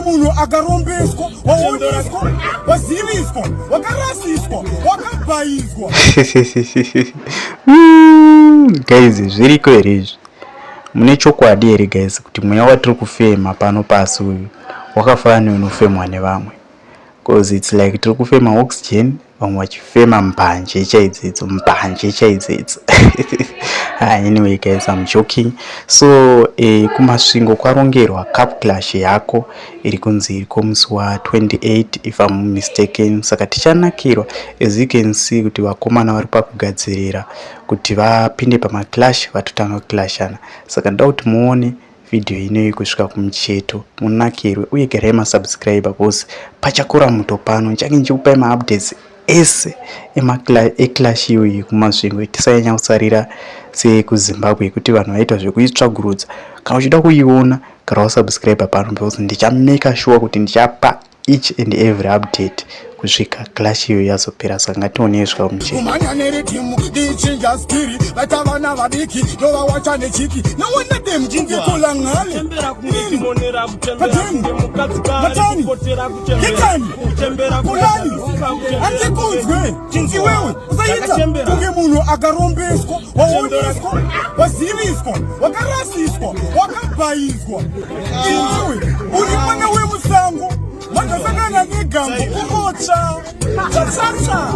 munhu akarombeswa waoneswa waziviswa wakarasiswa wakabhaizwa guys zviriko here izvi mune chokwadi here guys kuti mweya watiri kufema pano pasi uyu wakafanana neunofemwa nevamwe cause it's like tiri kufema oxygen vamwe vachifema mbanje chaidzidzo mbanje chaidzidzo ah, anyway guys am joking so eh, kumasvingo kwarongerwa cup clash yako iri kunzi iri kwomusi wa28 if am mistaken saka tichanakirwa as you can see kuti vakomana vari pakugadzirira kuti vapinde pamaclash vatotanga kuclashana saka ndoda kuti muone vhidhiyo inoyi kusvika kumucheto munakirwe uye garai masubscribe bcause pachakura muto pano ndichange ndichikupai maupdates ese eclash iyoyi kumasvingo tisanyanya kusarira sekuzimbabwe yekuti vanhu vaita zvekuitsvagurudza kana uchida kuiona gara wasubscribe pano because ndichameka shuwa kuti ndichapa each and every update kusvika clash iyo yazopera saka ngationei zvika kumucheumhanya neritimu ichinja spiri vaita vana vadiki ndovawacha nechiki nowana demjingekola nhale andikunzwe chinzi wewe usaita kunge munhu akarombeswa waoneswa waziviswa wakarasiswa wakabhaizwa uri mwana wemusango makasangana negambo kukotsva chasasa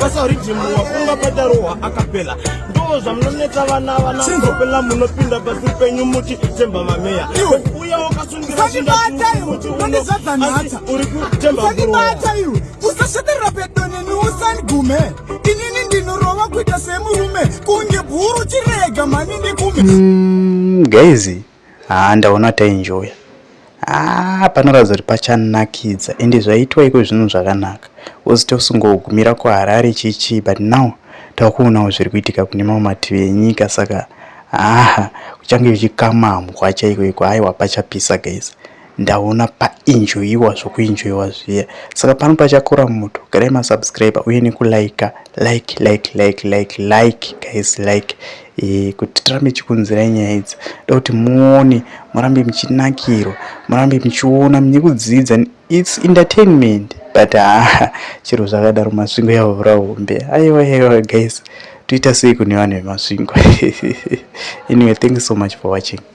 basa rijimu wafunga padarohwa akapela ndo zvamunonetsa vana vana kopela munopinda pasi penyu muti semba mameya usandibata iwe unondizadza nhata usandibata iwe usasveterera pedo neni usandigume inini ndinorova kuita semurume kunge bhuru chirega mhani ndikume mm, guys haa ndaona tainjoya haa ah, panoratidza kuti pachanakidza ende zvaitwa iko zvinhu zvakanaka uzite usingogumira kuharare chichii but now takuonawo zviri kuitika kune mamwe mativi enyika saka Haa kuchange kuchikamamwa chaiko iko aiwa pachapisa guys ndaona painjoiwa zvokuinjoiwa zviya saka pano pachakora moto garai masubscriber uye nekulika like like like like like guys like e, kuti tirambe chikunzirai nyaya idzi ndokuti muone murambe muchinakirwa murambe muchiona munyekudzidza It's entertainment but haa chero zvakadaro masvingo yavhura hombe aiwa aiwa guys toita sei kune vanhu vemasvingo anyway thank you so much for watching